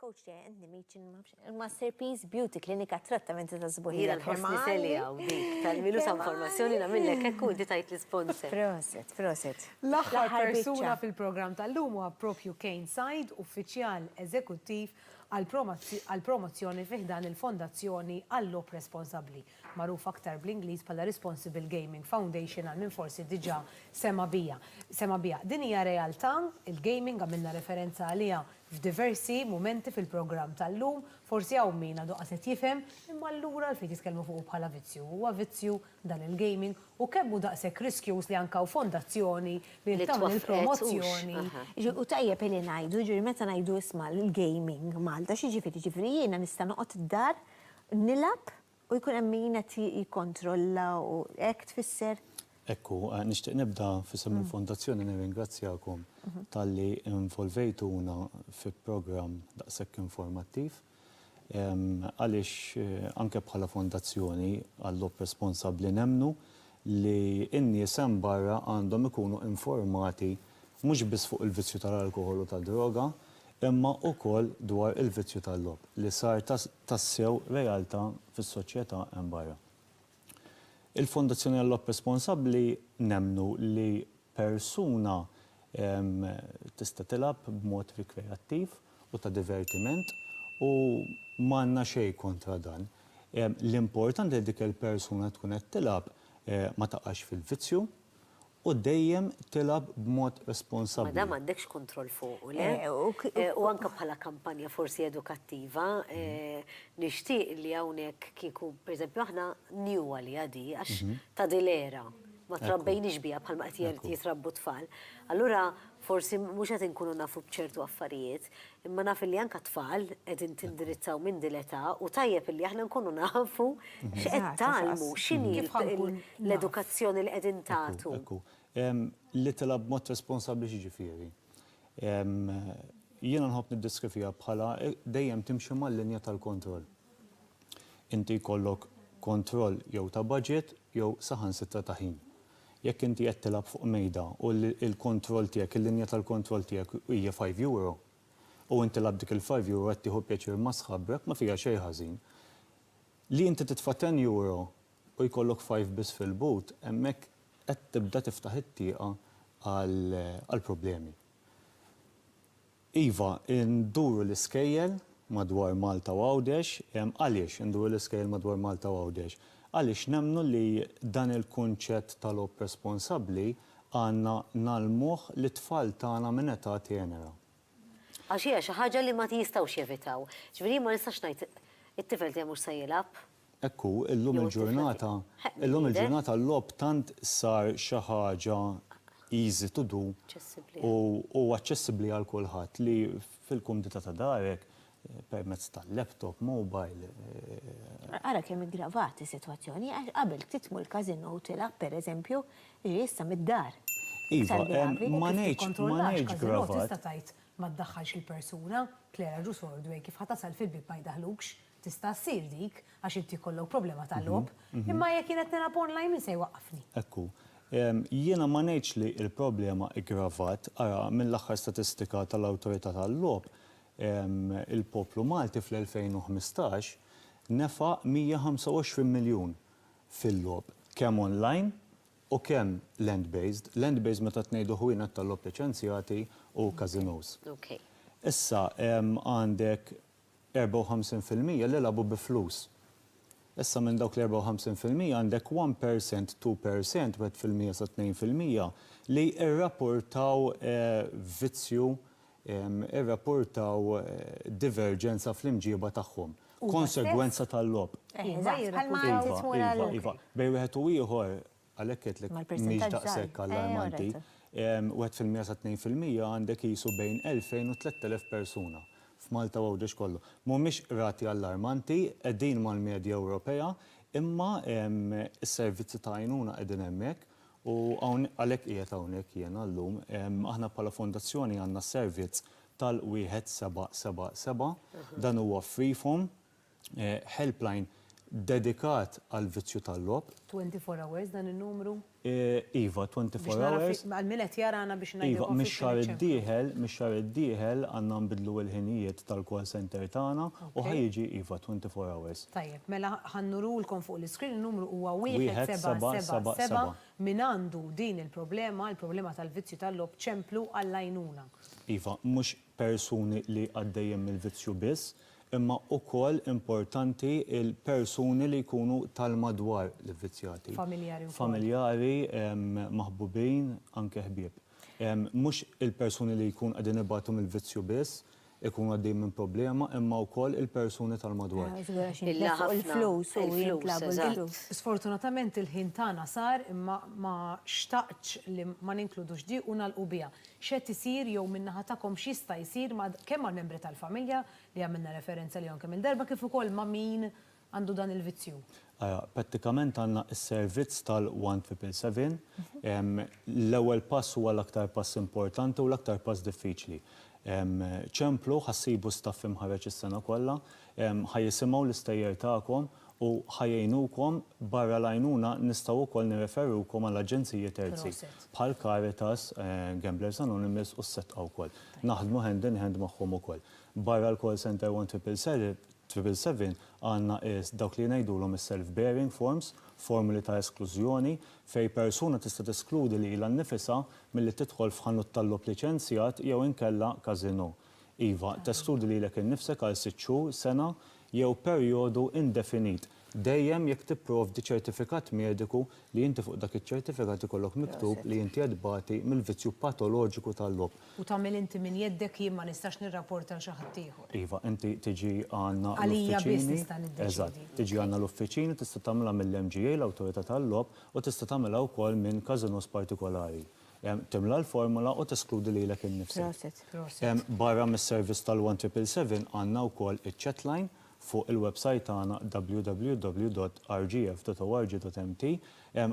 coach tiegħi għandni meeting masterpiece beauty klinika trattamenti ta' żbuħira termali. Tal-milu sa' informazzjoni nagħmillek hekk u tajt l-isponsor. Proset, proset. L-aħħar persuna fil-programm tal-lum huwa propju Kane Said, uffiċjal eżekuttiv għall-promozzjoni fi ħdan il-Fondazzjoni għall-Logħob Responsabbli. magħruf aktar bl-Ingliż bħala Responsible Gaming Foundation għal min forsi diġà sema' bija, sema' biha. Din hija realtà, il-gaming, għamilna referenza għaliha f'diversi mumenti fil-programm tal-lum, forsi hawn min għadu qas qed jifhem, imma allura għalfejn titkellmu fuqu bħala vizzju? Huwa vizzju dan il-gaming? U kemm hu daqshekk riskjuż li anke hawn fondazzjoni li qed tagħmel il-promozzjoni? Li twaffqet, hux? Hu tajjeb li ngħidu, jiġifieri meta ngħidu isma' l-gaming Malta, x'jiġifieri? Jiġifieri jiena nista' noqgħod id-dar Nilgħab u jkun hemm min qed jikkontrolla u hekk tfisser? Hekk hu. Nixtieq nibda f'isem il-Fondazzjoni nirringrazzjakom talli involvejtuna fi programm daqshekk informattiv għaliex anke bħala Fondazzjoni għall-Logħob Responsabbli nemmnu li n-nies hemm barra għandhom ikunu informati mhux biss fuq il-vizzju tal-alkoħol u tad-droga, imma wkoll dwar il-vizzju tal-logħob li sar tassew realtà fis-soċjetà hemm barra. Il-Fondazzjoni għal-Logħob Responsabbli nemmnu li persuna tista' tilgħab b'mod rikreattiv u ta' divertiment u m'għandna xejn kontra dan. L-importanti li dik il-persuna tkun qed tilgħab ma taqax fil-vizzju U dejjem tilgħab b'mod responsabbli. Ma dan m'għandekx kontroll fuqu, le? U anke bħala kampanja forsi edukattiva, nixtieq li hawnhekk kieku, per eżempju, aħna new għaliha di, għax ta' din l-era, ma trabbejniex biha bħalma qed jitrabbu t-tfal. Allura forsi mhux qed inkunu nafu b'ċertu affarijiet. Imma naf illi anke t-tfal qegħdin tindirizzaw minn din l-età u tajjeb illi aħna nkunu nafu x'qed tgħallmu, x'inhi l-edukazzjoni li qegħdin tagħtu. Ekku, ekku. Li tilgħab b'mod responsabbli x'jiġifieri? Jiena nħobb niddeskriviha bħala dejjem timxi mal-linja tal-kontroll. Inti jkollok kontroll jew ta' budget jew saħansitra ta' ħin. Jekk inti qed tilgħab fuq mejda u l-kontroll tiegħek, il-linja tal-kontroll tiegħek hija five euro, u int tilgħab dik il-five euro qed tieħu pjaċir ma' sħabrek, ma fiha xejn ħażin. Li inti titfa' ten euro u jkollok five biss fil-but, hemmhekk qed tibda tiftaħ it-tieqa għall-problemi. Iva, induru l-iskejjel madwar Malta u Għawdex. Għaliex induru l-iskejjel madwar Malta u Għawdex? Għaliex nemmnu li dan il-kunċett ta' logħob responsabbli għandna ngħallmuh lit-tfal tagħna minn età tenera. Għax hija xi ħaġa li ma jistgħux jevitaw. Jiġifieri jien ma nistax ngħid it-tifel tiegħi mhux se jilgħab. Hekk hu, illum il-ġurnata, illum il-ġurnata l-logħob tant sar xi ħaġa easy to do u aċċessibbli għal kulħadd li fil-kumdità ta' darek permezz ta' laptop, mobile. Ara kemm iggravat is-sitwazzjoni għax qabel ftit tmur il-casino u tilgħab pereżempju, jiġifieri issa mid-dar. Iva, ma ngħidx, ma ngħidx gravat. Tista' tgħid ma ddaħħalx lill-persuna, tlera ġu sordu hekk kif ħa tasal fil-bieb ma jdaħħlukx. Tista' ssir dik, għax inti jkollok problema ta' logħob, imma jekk jien qed nilgħab online min se jwaqqafni? Hekk hu. Jiena ma ngħidx li l-problema iggravat, ara, mill-aħħar statistika tal-Awtorità tal-Logħob, il-poplu Malti fl-2015 nefaq 125 miljun fil-logħob, kemm online u kemm land based, land based meta tngħidu ħwienet tal-logħob liċenzjati u każinòs. Issa għandek 54 fil-mija li lagħbu bi flus. Issa minn dawk l-54 fil-mija għandek one percent, two percent, wieħed fil-mija sa tnejn fil-mija li rrapportaw vizzju, irrapportaw diverġenza fl-imġieba tagħhom, konsegwenza tal-logħob. Iva, iva, iva. Bejn wieħed u ieħor Għalhekk għedtlek mhix daqshekk allarmanti. Wieħed fil-mija sa tnejn fil-mija għandek qisu bejn 2,000 u 3,000 persuna f'Malta u Għawdex kollu. Mhumiex rati allarmanti, qegħdin mal-medja Ewropea, imma s-servizzi ta' għajnuna qegħdin hemmhekk u għalhekk qiegħed hawnhekk jiena llum. Aħna bħala fondazzjoni għandna s-servizz tal-1777. Dan huwa free form, Helpline dedikat għall-vizzju tal-logħob. 24 hours dan in-numru? Iva, 24 hours. Għal min qed jarana biex ngħidilkom. Iva, mix-xahar id-dieħel, mix-xahar id-dieħel għandna nbiddlu il-ħinijiet tal-call center tagħna u ħa jiġi iva 24 hours. Tajjeb, mela ħa nurulkom fuq l-iscreen in-numru huwa 1777 min għandu din il-problema, il-problema tal-vizzju tal-logħob ċemplu għall-għajnuna. Iva, mhux persuni li għaddejjin mill-vizzju biss, imma ukoll importanti l-persuni li jkunu tal-madwar l-ivvizzjati. Familjari wkoll. Familjari, maħbubin, anke ħbieb. Mhux il-persuni li jkun qegħdin ibatu mill-vizzju biss, ikunu għaddejjin minn problema, imma wkoll il-persuni tal-madwar. Illa ħafna. Il-flus u jintlabu l-flus. Sfortunatament il-ħin tagħna sar imma ma xtaqtx li ma ninkludux di u nagħlqu biha. X'qed isir jew min-naħa tagħkom x'jista' jsir ma' kemm mal-membri tal-familja li għamilna referenza lihom kemm il-darba kif ukoll ma' min għandu dan il-vizzju? Ara, prattikament għandna s-servizz tal-One Triple Seven. L-ewwel pass huwa l-aktar pass importanti u l-aktar pass diffiċli. Ċemplu, ħa ssibu staff imħarreġ is-sena kollha, ħa jisimgħu l-istejjer tagħkom u ħa jgħinukom, barra l-għajnuna nistgħu wkoll nirreferukom għal aġenziji terzi bħal Caritas, Gamblers Anonymous u s-Setqa wkoll. Naħdmu hand in hand magħhom ukoll. Barra l-call centre 1777 għandna dawk li ngħidulhom is-self bearing forms, formuli ta' esklużjoni, fejn persuna tista' teskludi lilha nnifisha milli tidħol f'ħanut tal-logħob liċenzjat jew inkella casino. Iva, teskludi lilek innifsek għal sitt xhur, sena jew perjodu indefinit, dejjem jekk tipprovdi ċertifikat mediku li inti fuq dak iċ-ċertifikat ikollok miktub li inti qed tbati mill-vizzju patoloġiku tal-logħob. U tagħmel inti minn jeddek jien ma nistax nirrapporta għal xi ħadd ieħor. Iva, inti tiġi għandna l-uffiċini. Għalija biss nista' niddeċiedi. Eżatt, tiġi għandna l-uffiċini, tista' tagħmilha mill-MGA, l-Awtorità tal-Logħob, u tista' tagħmilha wkoll minn każinòs partikolari. Timla l-formola u teskludi lilek innifsek. Prosit. Prosit. Barra mis-servizz tal-1777 għandna wkoll iċ-chatline fuq il-websajt tagħna www.rgf.org.mt.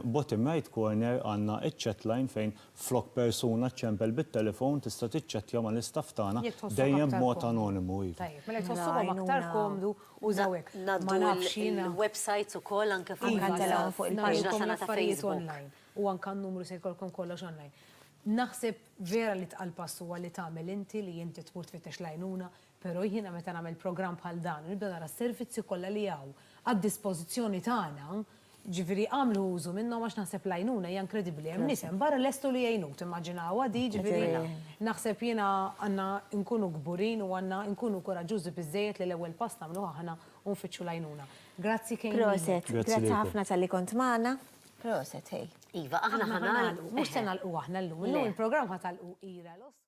Bottom right corner għandna iċ-chatline fejn flok persuna ċċempel bit-telefon tista' tiċċettja mal-istaff tagħna dejjem b'mod anonimu. Tajjeb, mela jekk tħossukom aktar komdu użaw hekk. Ngħaddu l-websajts ukoll anke fuq il-paġna tagħna ta' Facebook. u anke n-numru se jkollkom kollox online. Naħseb vera li tqal pass huwa li tagħmel inti, li inti tmur tfittex l-għajnuna, però jiena meta nagħmel programm bħal dan u nibda nara s-servizzi kollha li hawn għad-dispożizzjoni tagħna, jiġifieri agħmlu użu minnhom għax naħseb l-għajnuna hija inkredibbli, hemm nies hemm barra lestu li jgħinuk, timmaġinawha di, jiġifieri naħseb jiena għandna nkunu kburin u għandna nkunu kuraġġużi biżżejjed li l-ewwel pass nagħmluh aħna u nfittxu l-għajnuna. Grazzi kemm lilek. Proset, grazzi ħafna talli kont magħna. Proset, hej. Iva, aħna ħa nagħlqu. Mhux se nagħlqu aħna llum. Illum il-programm ħa tagħlqu Ira Losco.